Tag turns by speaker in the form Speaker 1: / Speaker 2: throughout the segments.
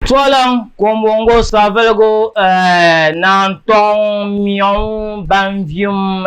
Speaker 1: Tɔliŋ kombongo savelugu naan tɔŋ miɔŋ ban vium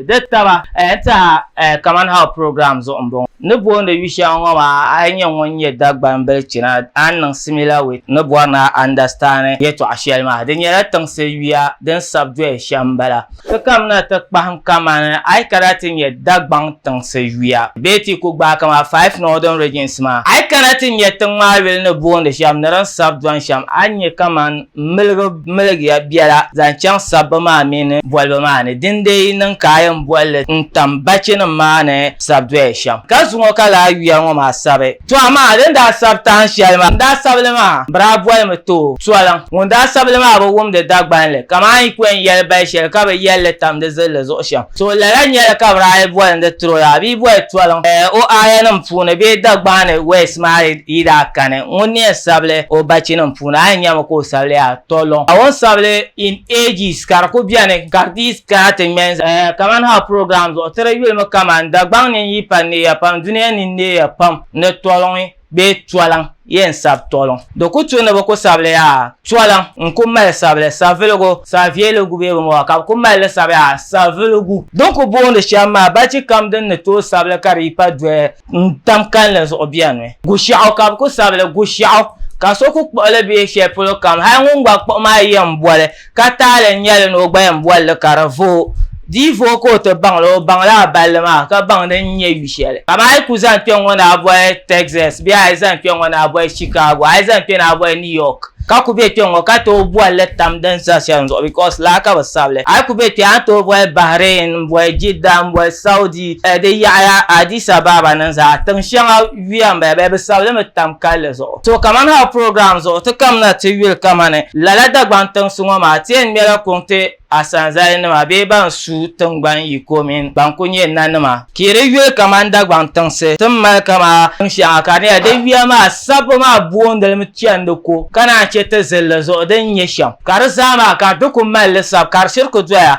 Speaker 1: di taba n-tiha kaman hal program zuɣu m-bɔŋɔ. Ni booni yu shɛŋa ŋɔ maa, a yi nyɛ ŋun nyɛ Dagban bilichina, a ni niŋ similar with ni bɔri ni a understand yɛtɔɣ shɛli maa. Di nyɛla tiŋsi yuya din sabi doya shɛm m-bala. Sokam na ti kpahim kamani a yi kana ti nya Dagbaŋ tiŋsi yuya bee ti yi ku gbaai kamani Five Northern Regions maa, a yi kana ti nya tiŋ maa yuli ni boondi shɛm ni din sabi dɔni shɛm, a ni nya kamani miligi miligiya biɛla zaŋ chaŋ sabbu maa mini bolibu maa ni. Dindee yi niŋ ka a yɛn boli li n-tam bachinim maa ni sabi doya shɛm, ka zuŋɔ ka lala yuya ŋɔ maa sabi. To amaa din daa sabi tahin shɛli maa n daa sabili maa bi daa boli mi to toliŋ. Ŋun daa sabili maa bi wumdi Dagbanli kaman yi pɔi n-yɛli bali shɛli ka bi yɛli li tam di zilli zuɣu shɛm. To lala nyɛla ka bi daa yi boli ni di troya bee boli toliŋ o aayanim puuni bee Dagbani wɛs maa yi daa kani ŋun ni yɛn sabili o bachinim puuni a yi nyami ka o sabili yaa toliŋ. Ka o ni sabili in ages ka di ku beni ka di Ka ti ŋmɛn zaa ya kaman ha program zuɣu tiri yulimi kaman Dagbaŋ ni n-yi pa neeya pam dunia ni neeya pam ni tɔliŋ bee tɔliŋ yɛn sabi tɔliŋ di ku tu ni bi ku sabili yaa tɔliŋ n-ku mali sabili saviligu savieligu bee bini bɔŋɔ ka bi ku mali li sabi yaa saviligu din ku boondi shɛm maa bachi kam din ni tooi sabili ka di yi pa doli n tam kalinli zuɣu bɛni gushɛɣu ka bi ku sabili gushɛɣu ka so ku kpuɣi li bee shɛli polo kam hali ŋun gba kpuɣi maa yɛn boli ka taali n nyɛli ni o gbaya n boli li ka di vooi di yi vooi ka o ti baŋ li o baŋ la a balli maa ka baŋ din nyɛ yu shɛli ka maa yi ku zaŋ kpɛ ŋɔ ni a boli Texas bee a yi zaŋ kpɛ ŋɔ ni a boli Chicago a yi zaŋ kpɛ ni a boli New York ka ku be kpɛ ŋɔ ka tooi boli li tam din za shɛli zuɣu because laa ka bi sabili a yi ku be kpɛ a ni tooi boli Bahrain n boli Jidda n boli Saudi di yaɣaya Addis Ababa ni zaa tiŋ shɛŋa yuya m-bala bee bɛ sabi li mi tam kalli zuɣu. To kamani hal program zuɣu ti kam na ti yuli kamani lala Dagbaŋ tiŋsi ŋɔ maa ti yɛn ŋmɛla kuŋ ti Asanzali nima bee ban su tiŋgbani yiko mini ban kuli nyɛ nanima ka yi di yuli kamani Dagbaŋ tiŋsi ti ni mali kamani tiŋ shɛŋa ka di nyɛla di yuya maa sabbu maa booni li mi chandi ko ka naan che ti zilli zuɣu din nyɛ shɛm ka di zaa maa ka di kuli mali li sabi ka di shiri kuli doya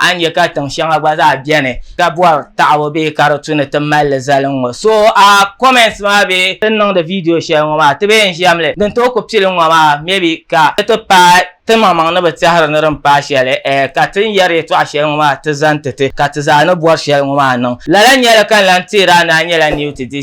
Speaker 1: A ni nya ka tiŋ shɛŋa gba zaa beni ka bɔri taɣibu bee ka di tu ni ti mali li zali n ŋɔ. So a comments maa bee ti ni niŋdi video shɛli ŋɔ maa ti bee n ʒiɛm li din tooi ku pili n ŋɔ maa maybe ka di ti paai ti maŋmaŋ ni bi tɛhiri ni din paai shɛli eh ka ti ni yɛri yɛtɔɣa shɛli ŋɔ maa ti zani ti ti ka ti zaa ni bɔri shɛli ŋɔ maa niŋ. Lala nyɛli ka n lan teeri a ni a nyɛla New ti di.